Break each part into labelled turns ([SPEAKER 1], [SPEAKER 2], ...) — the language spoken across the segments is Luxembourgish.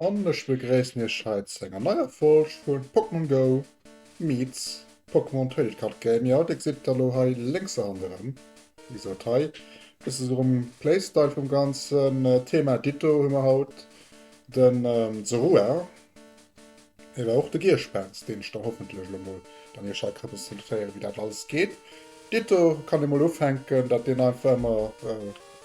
[SPEAKER 1] An ech begréissen iech hei zu enger neier Folg vu Pokémon Go meets Pokémon Trading Card Game. Jo, dir gesitt elo hei lénks eran erëm, wéi gesot, hei dréit sech erëm um Playstyle vum ganzen Thema. Ditto hu mer haut de Zorua, ewer och de Gierspens, deen ech dann hoffentlech elo mol dann iech hei representéieren, wéi dat alles geet. Ditto kann ee mol ufänken, datt deen einfach ëmmer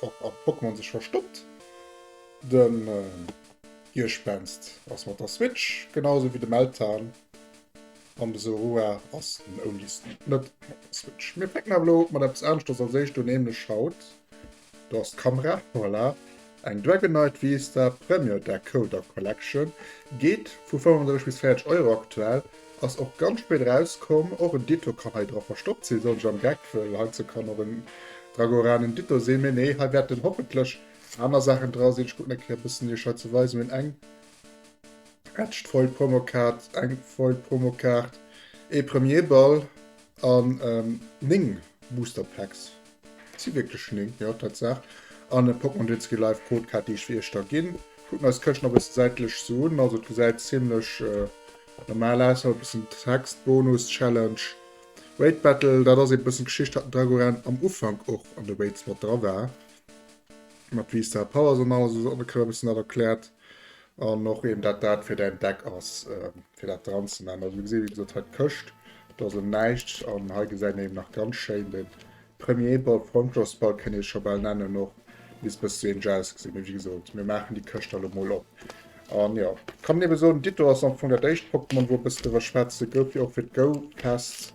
[SPEAKER 1] op Pokémon sech verstoppt. Den Giespenst ass mat der Switch, genau sou wéi de Meltan, an de Zorua ass den Oldisten net mat der Switch. Mir fänken awer elo mat eppes aneschters als éischt un, nämlech haut, do ass d'Kamera, voilà, eng Dragonite Vista Premier Decoder Collection, geet vu 35 bis 40 Euro aktuell, ass och ganz spéit erauskomm, och en Ditto kann hei dra verstoppt sinn, soll ech am Geck, well heizou kann och en Dragoran en Ditto sinn, mee nee, hei wäert en hoffentlech Aner Saachen dra sinn, ech kucken eng Kéier e bëssen iech hei ze weisen, mir hunn eng Etched Foil Promo Kaart, eng Foil Promo Kaart, ee Premier Ball an 9 Booster Packs, et si wierklech 9, jo Tatsaach, an e Pokémon Gen Ski Live Code Kaart déi ech fir iech da ginn. Kucken eis d'Këscht nach e bëssen säitlech sou un, also et gesäit zimlech normal aus, hei e bëssen Text, Bonus, Challenge, Raid Battle, dat ass ee bëssen d'Geschicht hatt den Dragoran am Ufank och an de Raids mat dra war, Mat Wii Star Powers an alles ass ongeféier e bëssen dat erkläert. An och eben dat dat fir däin Deck ass, fir dat dran ze man. Also du gesi wéi gesot hei d'Këscht, do ass em näischt. An hei gesäit een eben nach ganz schéin de Premier Ball, Frontloss Ball kënnt ee scho bal nennen och, misst e bësse seng Jauss gesinn. Mee wéi gesot, mir maachen déi Këscht dann elo mol op. An jo, kann een eben soen, Ditto ass am Fong dat éischt Pokémon wou e bësse driwwer schwätze gouf, wéi och fir d'Go-Fest.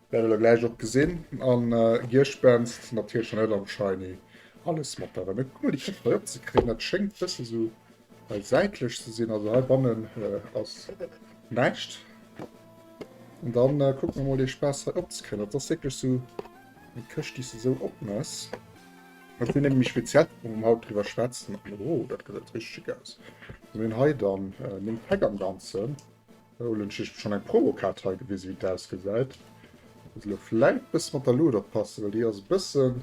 [SPEAKER 1] Wäerte mer gläich och gesinn. An Gierschpenst natierlech net am Shiny. Alles mat der Rem. Kuck mol déi Képp hei opzekréien. Dat schéngt bësse sou hei säitlech ze sinn. Also hei bannen ass näischt. An dann kucke mer mol dee Spaass hei opzekréien. Dat ass wierklech sou eng Këscht déi se sou opmess. Dat sinn nämlech speziell Képp wou mer haut driwwer schwätzen. Oh dat gesäit richteg schick aus. Wat hunn hei dann? Néng Päck am Ganzen. Huelen ech schon eng Promo Kaart hei gewisen wéi et ausgeseit. Muss elo vläit bëssen mat der Luut oppassen well déi ass e bëssen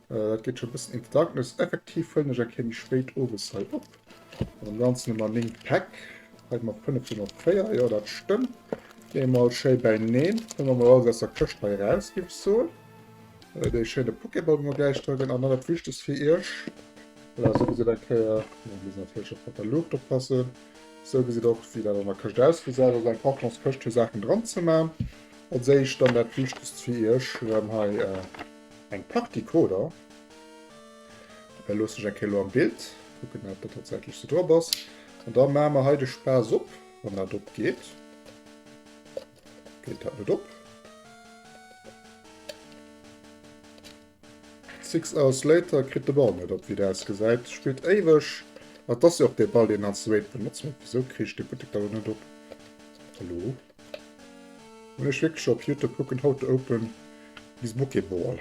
[SPEAKER 1] dat geet schon e bëssen in the darkness. Effektiv huelen ech eng Kéier méi spéit owes hei op. Mat am ganzen hu mer 9 Päck. Hei hu mer 5 do nach 4 jo dat stëmmt. Gi mer mol schéi beineen. Huele mer mol alles aus der Këscht hei eraus géif ech soen. Dee schéine Pokéball wou mer gläich dra ginn an dann dat wichtegst fir iech. Voilà sou gesäit eng Kéier, muss natierlech och mat der Luucht oppassen, Sou gesit och wéi dat an der Këscht ausgesäit. Also eng Kartonskëscht fir Saachen dran ze man. Als éischt dann dat wichtegst fir iech, mir hunn hei eng Pak Decoder. Dei loossen ech eng Kéier elo am Bild kucken wat do tatsächlech sou drop ass. An da man mer hei de Spaass op, wann dat op geet. Geet dat net op. Six Hours Later kritt de Ball net op, wéi et ausgesäit, spillt éiweg, ma et ass jo och dee Ball, deen als Wade benotzt huet. Wisou kriich de Buttek da lo net op? Hallo? Hunn ech wierklech op Youtube kucken How to open his Bokeh Ball?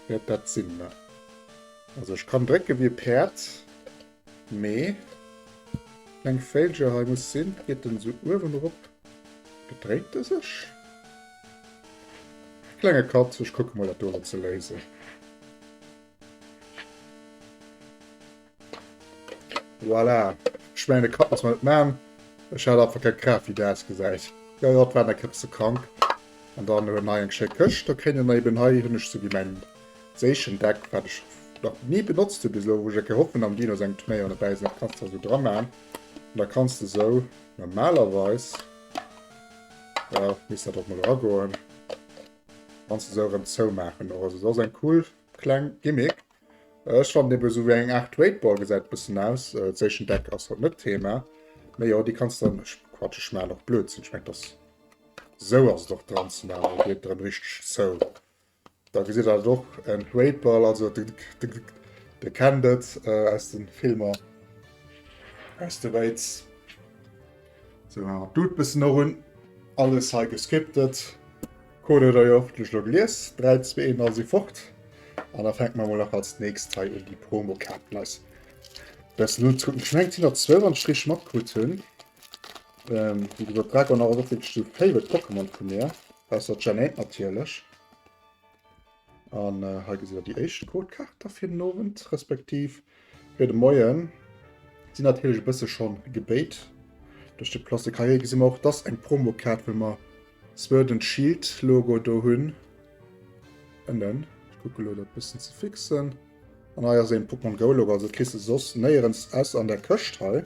[SPEAKER 1] Wäert dat sinn? Also ech kann drécke wéi e Päerd, Mee kleng Véilcher hei muss sin. Geet den sou uewen erop? Bedréit de sech? Klenge Katz, ech kucken mol dat do ze léisen. Voilà, ech mengen e Kapp muss mer net man, ech hat einfach keng Kraaft wéi de ausgesäit. Jo jo, et war nach e bësse krank. An dann hunn hei eng schéi Këscht, do kéint een eben hei hunn ech sou wéi mäin. Zéchen Deck wat ech nach nie benotzt hun bis elo wou ech eng Kéier hoffen am Dino sengem Turnéier derbäi sin, dat kanns de esou dra maan an da kanns de esou normalerweis, jo misst dat och mol era goen, kanns de esou erem zou maachen och. Also et ass eng cool kleng Gimmick. Ech fannen eben esou wéi eng Art Weightball gesäit et bessen aus. Zéchen Deck ass haut net d'Thema mee jo déi kanns de, ech quatsch ech maan och Blödsinn, ech mengen et ass esou ass et och dran ze maan an et wiirkt erem richteg zou. Da gesitt der et och, en Great Ball, also dir kennt et aus de Filmer, aus de Wéiz. Sou, an d'Dude bëssen erun. Alles hei gescriptet. Code huet der jo hoffentlech elo gelies. 3, 2, 1, all si fort. An da fänke mer emol nach als nächst hei un, déi Promokaarten eis bëssen unzekucken. Ech mengen, et sinn der zwou, wann ech et richteg matkritt hunn. Ähm, wéi gesot, Dragonor ass och wierklech de favorite Pokémon vu mir. Ausser Gen 1 natierlech. An äh, hei gesitt der déi éischt Codekaart fir den Owend, respektiv fir de Moien. Sinn natierlech e bësse schon gebéit. Duerch de Plus de Carrière gesinn mer och, dass eng Promokaart, wëll mer Sword and Shield Logo do hunn. Ënnen. Ich gucke lo dat bëssen ze fixen. An hei ass een Pokémon Go Logo, also kriss du soss néierens aus an der Këscht hei.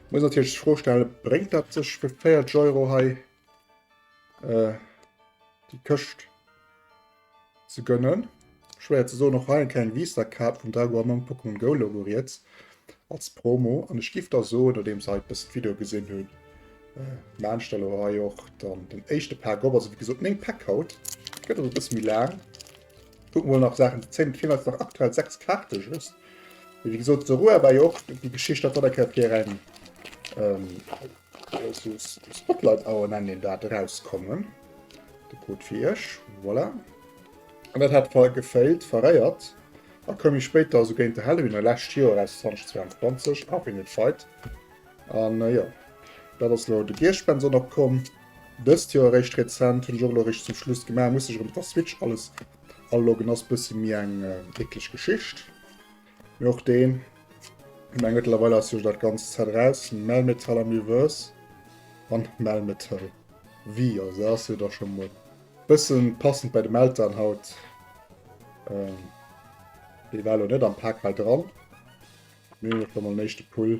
[SPEAKER 1] Ich muss natürlich die Frage stellen, bringt das sich für 40 Euro hei äh, die Kiste zu gönnen? Schwer zu so noch rein keine Visa-Karte von Drago am Pokémon Go Logo jetzt als Promo. Und ich gebe da so, nachdem ich halt das Video gesehen habe, äh, meine Stelle auch dann den ersten Pack, aber also wie gesagt, 9 Pack haut. Geht also ein bisschen lang. Kucken mol nach Saachen ze zéien. Et feelen eis nach aktuell 6 Kaarte just. Mee wéi gesot, d'Sarou a war jo och déi Geschicht dat der Kéier fir eng Spotlight Hour, nennen een dat, erauskommen. De Code fir iech. Voilà. An dat hat ver gefailt, verréiert. A koum méi spéit da sou géint de Halloween an lescht Joer eraus, 2022, Infinite Fight. An jo, dat ass elo de Giersch-Benson opkomm. Dëst Joer eréischt rezent, hunn ech och elo eréischt zum Schluss gemaach, muss sech erëm op der Switch alles aloggen, ass bësse méi eng eklech Geschicht, mee och deen ech meng mëttlerweil ass jo dat ganzt Set eraus, Melmetal am Reverse an Melmetal V, also dat ass jo da scho mol bësse passend bei de Meltdown haut, dee war elo net am Pak hei dran, mee hunn elo scho mol en éischte Pull.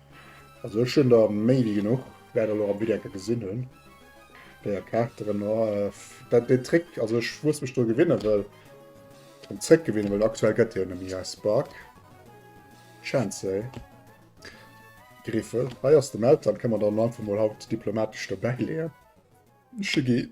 [SPEAKER 1] Also ech hun der méi wi genuch wei der lo am Video ka gesin hun. Déier Karakteren oaff dat dee Trick also ech wous mech do gewinnen wëll drum zréck gewinnen wëll aktuell gett dee jo nemmi hei Spark Chancey Griffel hei ass de Meltdown kann man dann einfach mol haut diplomatesch dobäi leeën Shiggy.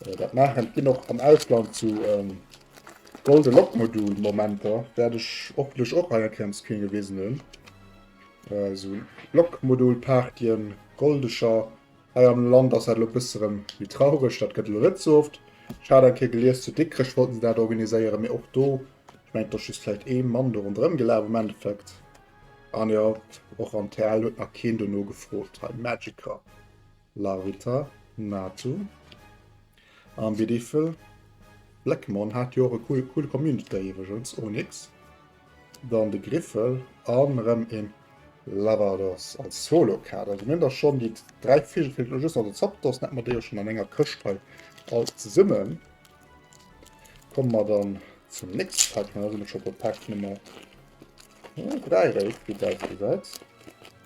[SPEAKER 1] Dat maachen et ginn och am Ausland sou Golden Lock Module Momenter, wärt ech hoffentlech och hei enkeiers keen gewisen hunn. Sou Lock Module Partyen, Goldecher. Hei am Land ass dat elo bësse rem méi traureg, dat gëtt elo net sou oft. Ech hat eng Kéier gelies zu Dikrech wollten se dat organiséieren, mee och do ech mengen et ass just vläicht ee Mann do ronderëm gelaf am Endeffekt. An jo och am TL huet nach keen dono gefrot hei Magicker. Larvita Natu an Biddyfel Blackmon hat jo och e coole Community iwwergens, Onyx, dann de Griffel an erëm een Lavados als Solo-Kaart. Also mir hunn da schonn déi 3 Vigel, feelt elo just nach den Zapdos, dann hätte mer déi och schonn an enger Këscht hei all zesummen. Komme mer dann zum nächste Pack, dann si mer scho bei Pack Nummer 3, wéi dat gesäit.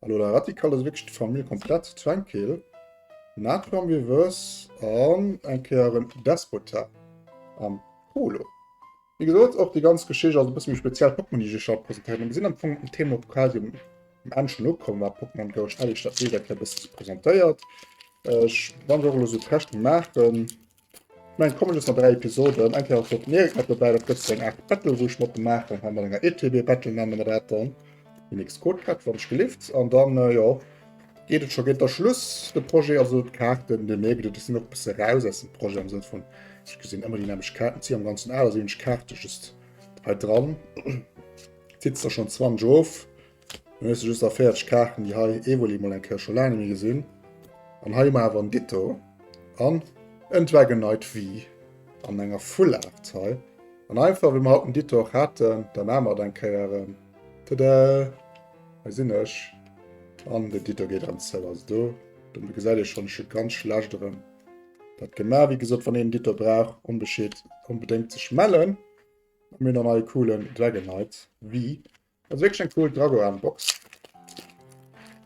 [SPEAKER 1] Hallo der Radikal ass wierklech d'Famill komplett zu Zwengkeel. Natron Reverse an eng Kéier en Despota am Polo. Wéi gesot, och déi ganz Geschicht ass e bësse méi speziell. Pokémon, déi ech iech haut presentéieren, mir sinn am Fong um Thema quasi um Enn schon ukomm bei Pokémon Go. Ech hat iech dat Bild eng Kéier e bësse presentéiert. Ech wann ech och elo sou d'Käschte maachen. Eng Comedy ass mat 3 Episoden. Eng Kéier ass och d'Merit mat dobäi. Dat gëtt sou eng Aart Battle, wou ech mat em maachen. Hei mat enger ETB Battle nenne mer dat dann. Den nächste Code prett, wann ech gelift. An dann, jo, geet et scho, geet da Schluss. De Projet, also d'Kaarten, den Merit, déi sinn och e bësse eraus aus dem Projet am Sënn vun, ech gesinn ëmmer déi nämlecht Kaarten. D'si am Ganzen 8, also hunn ech Kaarte just hei dran. D'Sitzer schonn 20 erof. Mir musse just nach 40 Kaarten, déi hei Evoli mol eng Kéier scho laang méi gesinn. An hei mar awer en Ditto. An en Dragon Knight V an enger Full Art hei. An einfach wie mer haut en Ditto och haten, da ma mer et eng Kéier. Ähm, tada! Hei sinn ech. An den Ditto geet an zou. Also do, do gesäit ee schonn, ech hu ganz schlecht erëm dat gemaach. Wéi gesot, wann een en Ditto brauch, onbeschéet, onbedéngt sech mellen. Mir hunn dann hei e coolen Dragon Knight V. Also wierklech eng cool Dragoran Box.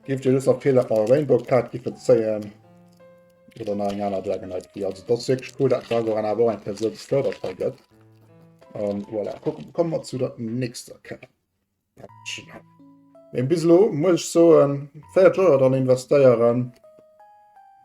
[SPEAKER 1] Giff dir just nach d'Feeler vun enger Rainbow Kaart giffen zéien oder nach eng aner Dragonite Key. Also dat ass wierklech cool dat den Dragoran awer och eng Kéier sou gefërdert hei gëtt. An voilà, kommen mer zu der nächster Kaart. Mee bis elo muss ech soen, 4 Joer dran investéieren.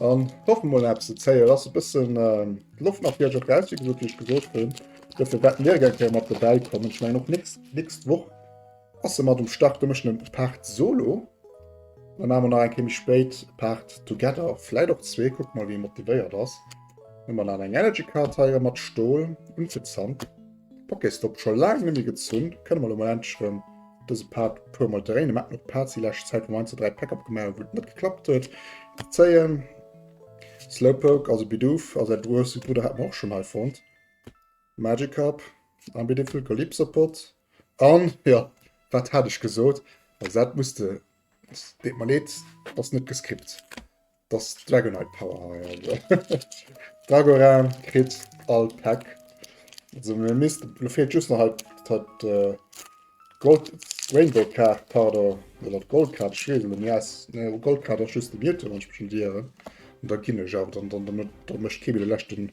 [SPEAKER 1] An hoffen mol nach ze zéien ass e bëssen Loft nach fir op Rausseg so Dich gesot hunn. Dofir wäert mir gär kéier mat dobäi kommen. Ech mengen och nächst nächst Woch ass e mat um Start. Do mécht en e Part Solo. Dann hu mer nach eng Kéier méi spéit e Part Together. Vläit och zwee, kuckt mol wéi motivéiert ass. Hu mer nach eng Energy Card hei mat Stol unvezant. D'Pokéstop scho laang nemmi gezunn, kënne mer lo mol endlech rem dëse Part e puer mol dréinen. Mer haten och d'Parts di lescht Zäit wou mer eins oder dräi Päck opgemaach hu wou et net geklappt huet ze zéien. Slowpoke, also Bidoof, a säi grouse Brudder hat mer och schonn hei fonnt. Magikarp a Bidoof, Calypsopod an jo, wat hat ech gesot? Also dat muss de, deet mer leed, ass net gescript. Das Dragonite Power High. Also. Dragoran kritt all Pack. Also mir misst fehlt just noch halt, halt äh, Gold Rainbow Card, pardon, oder Gold Card, ich weiß nicht, ja, ne, Gold Card ist just die Mieter, wenn ich mich schon diere. Und dann kann ich auch, dann, dann, dann, dann, dann möchte ich den letzten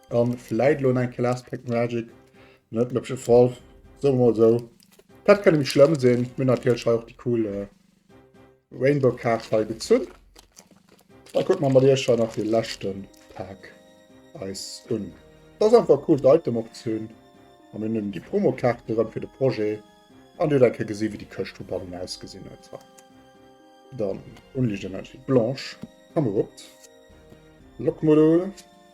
[SPEAKER 1] An vläit lo enke Last Pack Magic, net den hëbsche Fall, soe mer mol esou. Dat kënnt net méi schlëmm sinn. Mir hunn natierlech hei och déi cool Rainbow Kaart hei gezunn. Da kucke mer mat iech hei nach de leschte Pack eis un. Et ass einfach cool d'Item och ze hunn. A mir hunn déi Promo Kaarte rëm fir de Projet. An dir hutt eng Kéier gesi wéi déi Këscht vu bannen ausgesinn huet. Dann Unlicht Energie Blanche, Kamerupt, Lock Modul.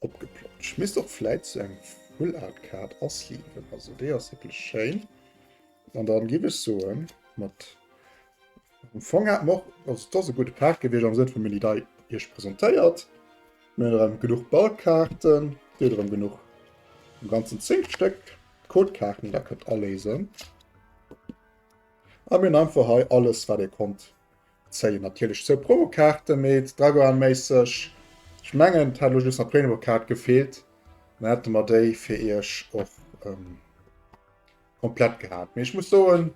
[SPEAKER 1] Opgeploppt. Ech misst och vläit sou eng Full-Art-Kaart asleeven. Also déi ass wierklech schéin. An dann giff ech soen, mat am Fong hat mer och, also et ass e gudde Paart gewiescht am Sënn vu mir hunn déi dei iech presentéiert. Mir hunn erëm genuch Ballkaarten, deet erëm genuch, am ganzen 10 Stéck Codekaarten, déi der kënnt aléisen. A mir hunn einfach hei alles wat ee konnt. Zéien natierlech zwou Promokaarte mee d'Dragoan-méisseg. Ech mengen et hätt elo just nach d'Prenokaart gefeelt, dann hätte mer déi fir iech och ähm, komplett gehat. Mee ech muss soen,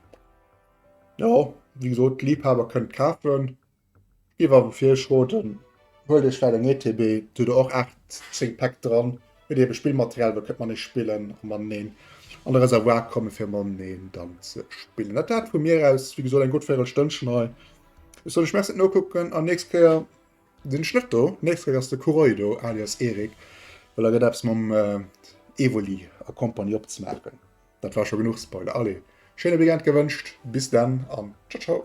[SPEAKER 1] ja, wéi gesot, d'Liebhaber kënnt kafen. Iwwer fir Schoten huelt iech well eng ETB, do do och 8 10 Päck dran. Huet ee be Spillmaterial wou kënnt manee spillen a maneen an de Reservoir komme fir maneen dann ze spillen. Dat dat vu mir aus wie gesot eng gutt véirel Stënnchen hei. Ech soll ech mech net nokucken an nächst Kéier sinn ech net do. Nächst Kéier ass de Kuroi do alias Erik, well da gëtt eppes mam äh, Evoli a Kompanie opzemaachen. Dat war scho genuch Spoiler. Allez, schéine Weekend gewënscht, bis dann an tschau tschau.